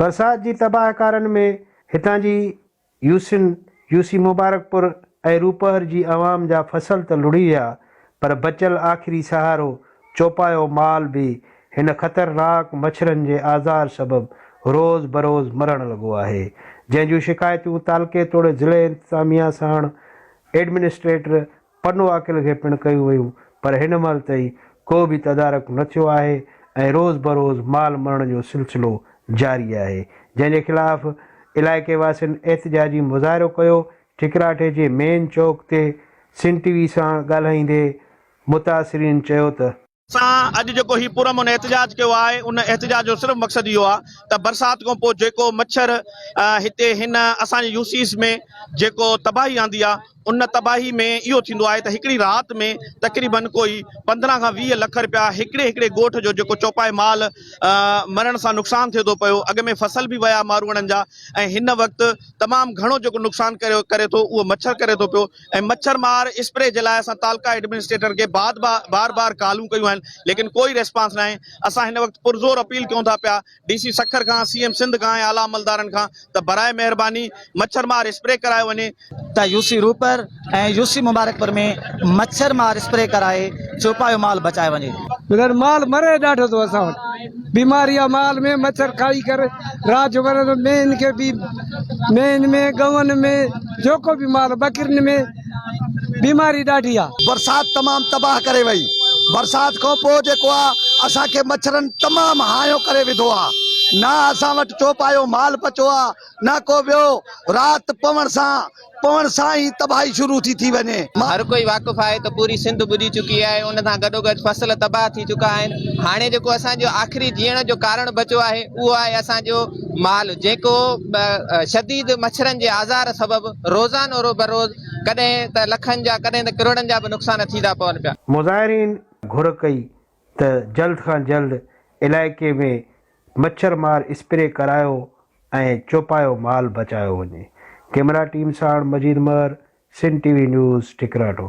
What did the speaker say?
برسات جي تباهڪارن ۾ هتان جي يوسين، يوسي مبارڪ پور ۽ روپهر جي عوام جا فصل ته لڙهي ويا پر بچيل آخري سهارو چوپايو مال به هن خطرناڪ مڇرن جي آزار سبب روز بروز مرڻ لڳو آهي جنهن جون شڪايتون تعلقي توڙي ضلعي انتظاميا ساڻ ايڊمنسٽريٽر پنو عاقل کي پڻ ڪيون ويون پر هن مهل تائين ڪو به تدارڪ نه ٿيو آهي ۽ روز بروز مال مرڻ جو سلسلو جاري آهي جنهن جي خلاف علائقي واسين احتجاجي مظاهرو ڪيو ٺڪراٺي جي مين چوڪ تي سنڌ ٽي وي سان ڳالهائيندي متاثرين چيو ته سان اڄ جيڪو هي پرامن احتجاج ڪيو آهي ان احتجاج جو صرف مقصد اهو آهي ته برسات کان پوء جيڪو مڇر هتي هن اسان جي يوسيس ۾ جيڪو تباهي آندي آهي ان تباهي ۾ اهو ٿيندو آهي ته هڪڙي رات ۾ تقريبا ڪوئي پندرهن کان ويهه لک رپيا هڪڙي هڪڙي ڳوٺ جو جيڪو چوپائي مال مرڻ سان نقصان ٿئي ٿو پيو اڳ ۾ فصل به ويا ماروئڙن جا ۽ هن وقت تمام گهڻو جيڪو نقصان ڪري ٿو اهو مڇر ڪري ٿو پيو ۽ مڇر مار اسپري جي لاء اسان تعلقه ايڊمنسٽريٽر کي بعد بار بار ڪالون ڪيون آهن ليڪن ڪوئي ريسپانس ناهي اسان هن وقت پرزور اپيل ڪيون ٿا پيا ڊي سي سکر کان سي ايم سنڌ کان ۽ اعليٰ عملدارن کان ته براء مهرباني مڇر مار اسپري ڪرايو وڃي ته U C Ropar ۽ U C Mubarakpur ۾ مڇر مار اسپري ڪرائي چوپايو مال بچايو وڃي. بغير مال مري ڏاڍو ٿو اسان وٽ. بيماري اعمال ۾ مڇر کائي ڪر راڄ ورندو مين کي بي مين ۾ ڳئون ۾ جيڪو به مال ٻڪرين ۾ بيماري ڏاڍي آ. برسات تمام تباھ ڪري وئي برسات کان پوء جيڪو آ اسان کي مڇرن تمام ھايو ڪري وڌو آ نه اسان وٽ چوپايو مال بچو آ نه ڪو ٻيو رات پوڻ سان پوڻ سان ئي تباهي شروع ٿي ٿي وڃي. هر ڪوئي واقف آهي ته پوري سنڌ ٻڏي چڪي آهي ان سان گڏوگڏ فصل تباهه ٿي چڪا آهن هاڻي جيڪو اسان جو آخري جيئڻ جو ڪارڻ بچو آهي اهو آهي اسان جو مال جيڪو شديد مڇرن جي آزار سبب روزانو رو بروز ڪڏهن ته لکن جا ڪڏهن ته ڪروڙن جا به نقصان ٿي ٿا پون پيا. مظاهرين گهر ڪئي ته جلد کان جلد علائقي ۾ مڇر مار اسپري ڪرايو ۽ چوپايو مال بچايو وڃي، ڪيمرا ٽيم ساڻ Majeed Mehar, Sindh T V news, ٺڪراٽو.